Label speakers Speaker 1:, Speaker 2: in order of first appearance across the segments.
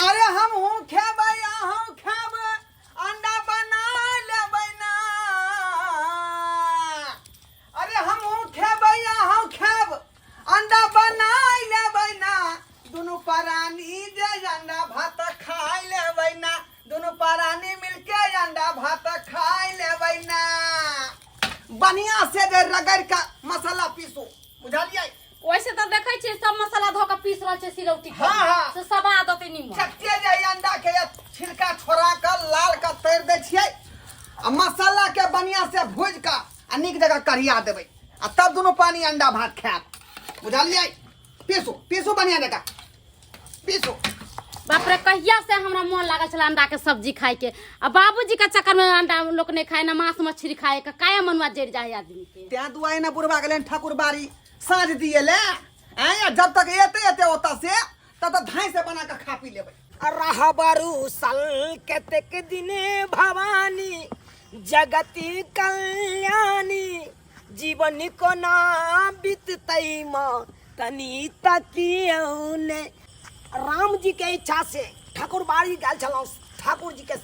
Speaker 1: अरे हम हूँ खेबै अहूँ खेबै अंडा बना लेबै ना अरे हम हूँ खेबै अहूँ खेब अंडा बना लेबै ना दुनू परानी जे अंडा भात खाय लेबै ना दुनू परानी मिलके अंडा भात खाय लेबै ना बढ़िया से जे रगड़ के मसाला पीसू बुझलियै वैसे तो देखे
Speaker 2: छे सब मसाला धो के पीस रहल छे सिलौटी पर। हाँ, हाँ। से सब आ देते
Speaker 1: नीमन
Speaker 2: चक्के जे ई अंडा
Speaker 1: के ये छिलका छोड़ा के लाल के तैर दै छियै आ मसाला के बढ़िया से भूज के आ नीक जगह कढ़िया देबै आ तब दुनू पानी अंडा भात खायब बुझलियै पीसू पीसू बढ़िया जगह बाप
Speaker 2: रे कहिया से हमरा मोन लागल छला अंडा के सब्जी खाए के आ बाबूजी के चक्कर में अंडा लोग नहीं खाए ना मांस मछली खाए के काहे मनुआ जड़ जाए आदमी के त्या दुआई ना बुढ़वा
Speaker 1: गेले ठाकुर बारी साँझ दिए ले आय जब तक एते एते होता से तब तक धाई से बना के खा पी लेबै रहा बारू
Speaker 3: सल कतेक दिने भवानी जगती कल्याणी जीवन कोना बीततै माँ तनी तकियौ ने राम जी के इच्छा से ठाकुर बाड़ी गेल छलहुँ ठाकुर जी के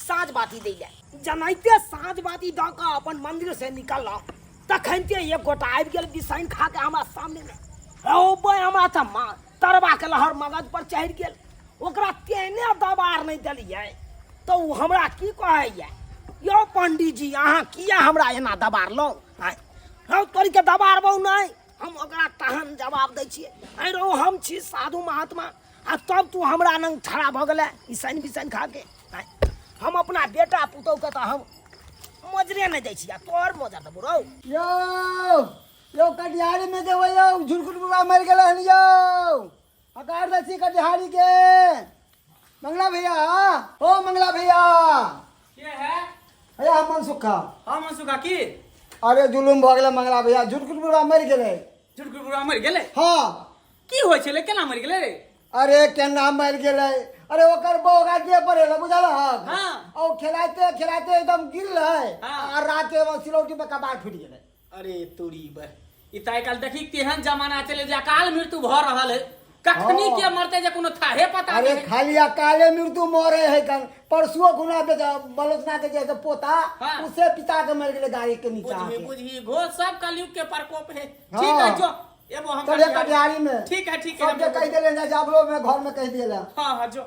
Speaker 3: साँझ बाती दै ले जनाइते साँझ बाती दऽ कऽ अपन मंदिर से निकललहुँ तखनते एक गोटा आबि गेल बिसाइन खा के हमरा सामने में रौ बे हमरा तऽ माँ तरबा के लहर मगज पर चढ़ि गेल ओकरा तेने दबार नहि देलियै तऽ ओ हमरा की कहैया यौ पंडीजी अहाँ किया हमरा एना दबारलहुँ आँय हौ तोरीके दबारबौ नहि हम ओकरा तहन जवाब दै छियै आँय रौ हम छी साधु महात्मा आ तब तू हमरा लग ठड़ा भऽ गेलै ई सैन बिसैन खा के आँय हम अपना बेटा पुतौहके तऽ हम मोजरे नहि दै छी आ तोहर मोजर देबौ रौ यौ
Speaker 4: यौ कटिहारी में जेबै यौ झुरकुट बाबा मरि गेल हन यौ हकार दै छी कटिहारी के मंगला भैया ओ मंगला भैया के
Speaker 5: है भैया हम मनसुखा
Speaker 4: हम सुखा की
Speaker 5: अरे जुलुम
Speaker 4: भऽ गेलै मंगला भैया झुरकुट बाबा मरि गेलै झुरकुट बुढ़वा मरि
Speaker 5: गेलै हँ की
Speaker 4: होइ छलै
Speaker 5: केना मरि गेलै रे अरे केना
Speaker 4: मरि गेलै अरे ओकर बौगा जे पड़ेला बुझल हक हाँ। ओ
Speaker 5: खेलाइते
Speaker 4: खेलाइते एकदम गिरलै हाँ। आ राते में
Speaker 5: सिलौटी
Speaker 4: पे कपार फूटि गेलै अरे तोरी
Speaker 5: बह ई तऽ आइ काल्हि देखी केहन जमाना चले जे अकाल मृत्यु भऽ रहल है कखनी हँ। के मरते जे कोनो
Speaker 4: थाहे
Speaker 5: पता अरे नहि खाली अकाले मृत्यु
Speaker 4: मरे है कन परसुओ गुना पे जा- बलोचना के जैसे पोता हाँ। उसे पिता
Speaker 5: के मर
Speaker 4: गेले गाड़ी के नीचा बुझी आके। बुझी घो
Speaker 5: सब
Speaker 4: कलयुग
Speaker 5: के प्रकोप है हाँ।
Speaker 4: ठीक
Speaker 5: है जो एगो हम चले कटिहारी में ठीक
Speaker 4: है ठीक है सबके हम- कह
Speaker 5: देले ना
Speaker 4: जाबलो में घर में कह देला हाँ हाँ जो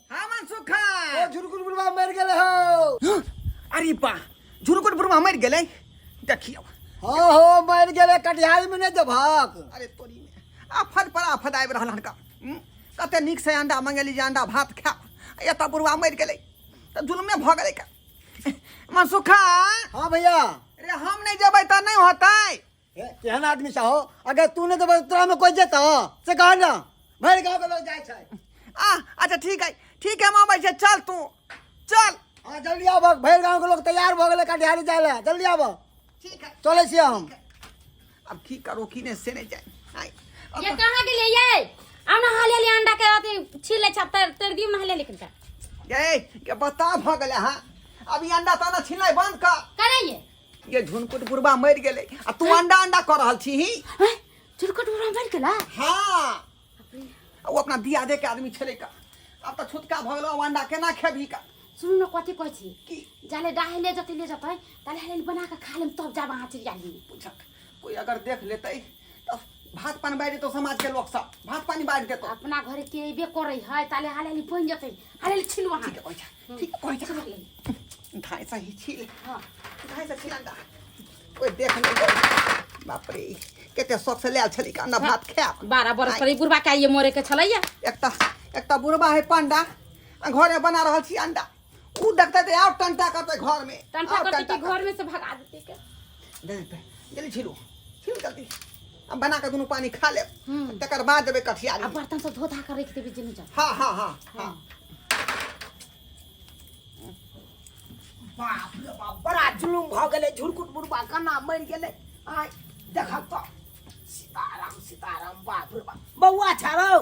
Speaker 4: हाँ मनसुखा
Speaker 1: ओ झुरकुट बुढ़वा मर गेले हो अरे बा झुरकुट बुढ़वा मर गेले देखियो
Speaker 4: हाँ हो मर गेले कटिहार में नहीं जबक अरे तोरी
Speaker 1: में आफत पर आफत आबि रहल हनका हम्म? कते नीक से अंडा मंगेली जे अंडा भात खा एतऽ बुढ़वा मरि गेलै तऽ जुलमे भऽ गेलै का मनसुखा हाँ
Speaker 4: भैया रे हम नहि
Speaker 1: जेबै तऽ नहि होतै केहन आदमी
Speaker 4: छह अगर तू नहि देबह तोरा में कोई जेता से कह ना भरि गांव के लोग जाय छै आ अच्छा
Speaker 1: ठीक है ठीक है हम आबै छै चल तू चल हां जल्दी आबह
Speaker 4: भरि गांव के लोग तैयार भ गेलै कटिहारी जाय ले जल्दी आबह ठीक है चले
Speaker 1: छी हम
Speaker 4: अब की
Speaker 1: करो की ने से नहीं जाए आय, अब ये कहाँ के लिए ये
Speaker 2: अब ना हाले ले अंडा के अथी छील ले छप तर तर दी महले लेकिन का ये के
Speaker 1: बता भ गेले हां अब ई अंडा ताना छिनाय बंद कर करे ये
Speaker 2: ये झुनकुट
Speaker 1: बुढ़वा मरि गेलै आ तू अंडा अंडा कऽ रहल छी ही हैं? चुरकट बुढ़वा
Speaker 2: मरि गेला हाँ
Speaker 1: आ ओ अपना दिया दे के आदमी छलै का आब तऽ छुटका भऽ गेलो आब अंडा केना खेबही का सुनू ने कथी कहै
Speaker 2: छी की जाले डाहे
Speaker 1: ले जतै
Speaker 2: ले जतै ताले हेल बना के खा लेम तब जाब अहाँ चलि जाली बुझक कोई
Speaker 1: अगर देख लेतै भात पानी बाढ़ि देतौ समाजके लोक सब भात पानी बाढ़ि देतौ अपना घरे के अयबे
Speaker 2: करै है ताले हालेली बनि जेतै हालेली छिल वहाँ ठीक
Speaker 1: कहै छ ठीक कहै छ धाय से ही छिल हाँ धाय से छिल अंडा ओए देख ले बाप रे केते शौक से लायल छली का अंडा भात खायब बारह बरस पर बुढ़वा
Speaker 2: के आइए मोरे के छलैया एक त एक त
Speaker 1: बुढ़वा है पंडा आ घरे बना रहल छी अंडा ऊ देखते ते आउ टंटा करते घर में टंटा आउ करते कि घर में
Speaker 2: से भगा देते के दे दे
Speaker 1: जल्दी छिलो छिल जल्दी अब बना के दोनों पानी खा ले हम्म। तकर बाद देबे कठिया अब बर्तन सब धो धा कर
Speaker 2: रख देबे जनी जा हां हां
Speaker 1: हां
Speaker 3: हां बाप रे बाप बड़ा जुलुम भ गेले झुरकुट बुढ़बा कना मर गेले आय देखब तो सीताराम सीताराम बाप रे बाप बौआ छारो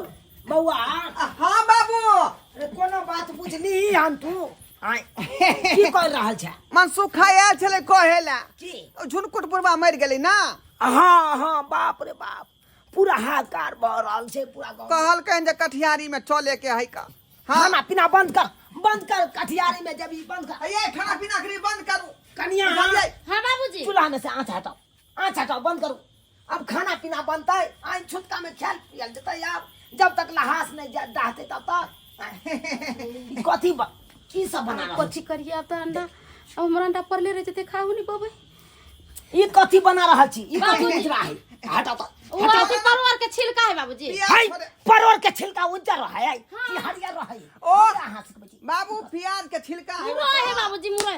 Speaker 3: बौआ हाँ
Speaker 1: बाबू अरे कोनो
Speaker 3: बात बुझली हम तू आय की कर रहल छै मन सुखा आयल
Speaker 1: छलै कहे ला की ओ झुनकुट
Speaker 3: बुढ़वा
Speaker 1: मरि गेलै ना हाँ हाँ
Speaker 3: बाप रे बाप पूरा
Speaker 1: हाहाकार भऽ
Speaker 3: रहल
Speaker 1: छै
Speaker 3: पूरा
Speaker 1: गाँव
Speaker 3: कहलकैन
Speaker 1: जे कठियारी
Speaker 3: में
Speaker 1: चले
Speaker 3: के
Speaker 1: है
Speaker 3: का
Speaker 1: हाँ खाना पीना बंद कर
Speaker 3: बंद कर कठियारी में जब ई बंद कर ये खाना पीना के लिए बंद
Speaker 1: करू कनिया बुझलियै?
Speaker 3: हाँ बाबूजी
Speaker 1: चूल्हा
Speaker 2: में से आँच हटाओ
Speaker 3: अच्छा तो बंद करू अब खाना पीना बनतै आइ छुटका में खायल पियल जेतै आब जब तक लहास नहीं जा- डहतै तब तक कथी ब- की सब बना रहल कथी करिए अब तो अंडा
Speaker 2: अब हमारा अंडा पड़ले रह जते खाहू नहीं पबै ई
Speaker 3: कथी बना रहल छी ई कथी बेच रहा है हटा
Speaker 2: तो
Speaker 3: ओ हटा अथी परवर
Speaker 2: के छिलका है बाबूजी प्याज हाय थोड़े- परोर
Speaker 1: के
Speaker 3: छिलका उज्जर रहा है कि हरियर रहा है ओ! हमरा अहाँ से कहै छी। बाबू प्याज के
Speaker 1: छिलका है मुरई है बाबूजी मुरई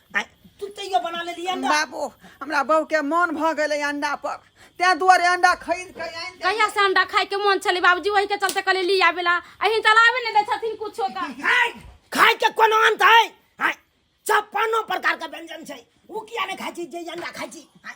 Speaker 3: तू तैयो बना लेली अंडा बाबू हमरा बहू
Speaker 1: के मन भ गेलै अंडा पर तैं दुआरे अंडा खरीद के आनि देलियै। कहिया से अंडा खाए के मन
Speaker 2: छले बाबूजी वही के चलते कहले ली आवेला अही चलावे ने दे छथिन कुछो का हाय खाय
Speaker 3: के कोनो अंत है हाय छप्पनो प्रकार के व्यंजन छै उ किया ने खाइ छी जे अंडा खाइ छी हाय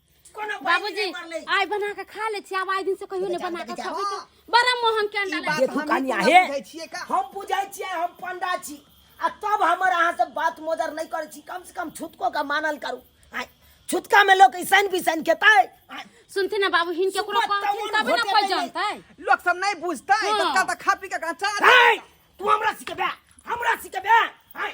Speaker 3: कोनो बाबूजी बाबूजी
Speaker 2: मर ले आइ बना के खा ले छी आब आइ दिन से कहियो नहीं बना के खाबे के बड़ा मोहन के अंडा ई ले बात देखू हम कनिया पूरा हे
Speaker 1: बुझै
Speaker 3: छियै
Speaker 1: का?
Speaker 3: हम
Speaker 1: बुझै छियै हम
Speaker 3: पंडा छी आ तब हमर अहाँ से बात मोदर नहि करै छी कम से कम छुतको के मानल करू आय, छुतका में लोग ऐसन बिसन खेतै आय, सुनते ना
Speaker 2: बाबू हिन केकरो सुबह कहथिन तवन तबे ना घोटे कोई पहिले। जानतै लोग सब नहीं
Speaker 1: बुझता है हाँ। तो कल तक खा पी के कहाँ चार आय, तू
Speaker 3: हमरा सिखेबे हमरा सिखेबे आय,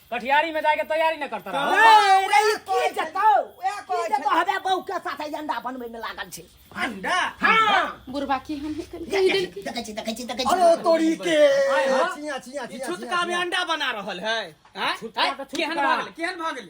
Speaker 6: कठियारी में जाके तैयारी न करता रहो ए, रे, ई की जेतौ
Speaker 3: उएह की कहै जेतौ
Speaker 1: हबे बहू के
Speaker 3: साथे अंडा बनबै में लागल छै अंडा हां बुरबा की हम कहि
Speaker 2: देल कि देखै छी देखै छी देखै छी अरे
Speaker 3: तोरी के
Speaker 4: आय हो। चिया चिया
Speaker 6: ई चिया
Speaker 4: छुटका में अंडा
Speaker 5: बना रहल है हैं? छुटका हैं? के छुटका।
Speaker 6: केहन भगल केहन
Speaker 5: भगल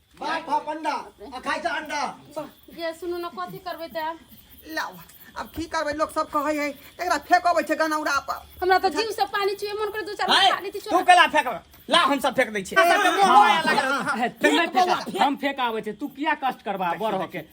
Speaker 4: मार खा
Speaker 5: पंडा
Speaker 4: आ खाइ छ अंडा जे सुनू
Speaker 2: न कथी करबै त आब? लाओ
Speaker 1: अब की करबै लोग सब कहै है एकरा फेकबै छै गनौरा पर हमरा त जीव से पानी
Speaker 2: चुए मन करे दू चार है, पानी ती तू चुए केला
Speaker 5: फेंक ला हम सब फेंक दै छी फेंक
Speaker 6: बोला, फेंक। हम फेंक आबै छै तू किया कष्ट करबा बड़ होके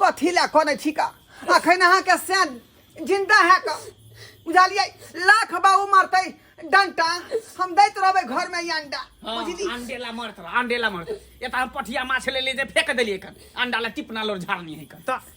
Speaker 1: कथी लए कनै छी का अखन अहाँके से जिंदा है का बुझलियै लाख बाबू मरतै डंटा हम दैत रहबै घर में ई अंडा हाँ, बुझली अंडे ला मरत रहा
Speaker 5: अंडे ला मरत एता हम पठिया माछ ले ले जे फेंक देलिए कन अंडा ला टिपना लोर झाड़नी है कन त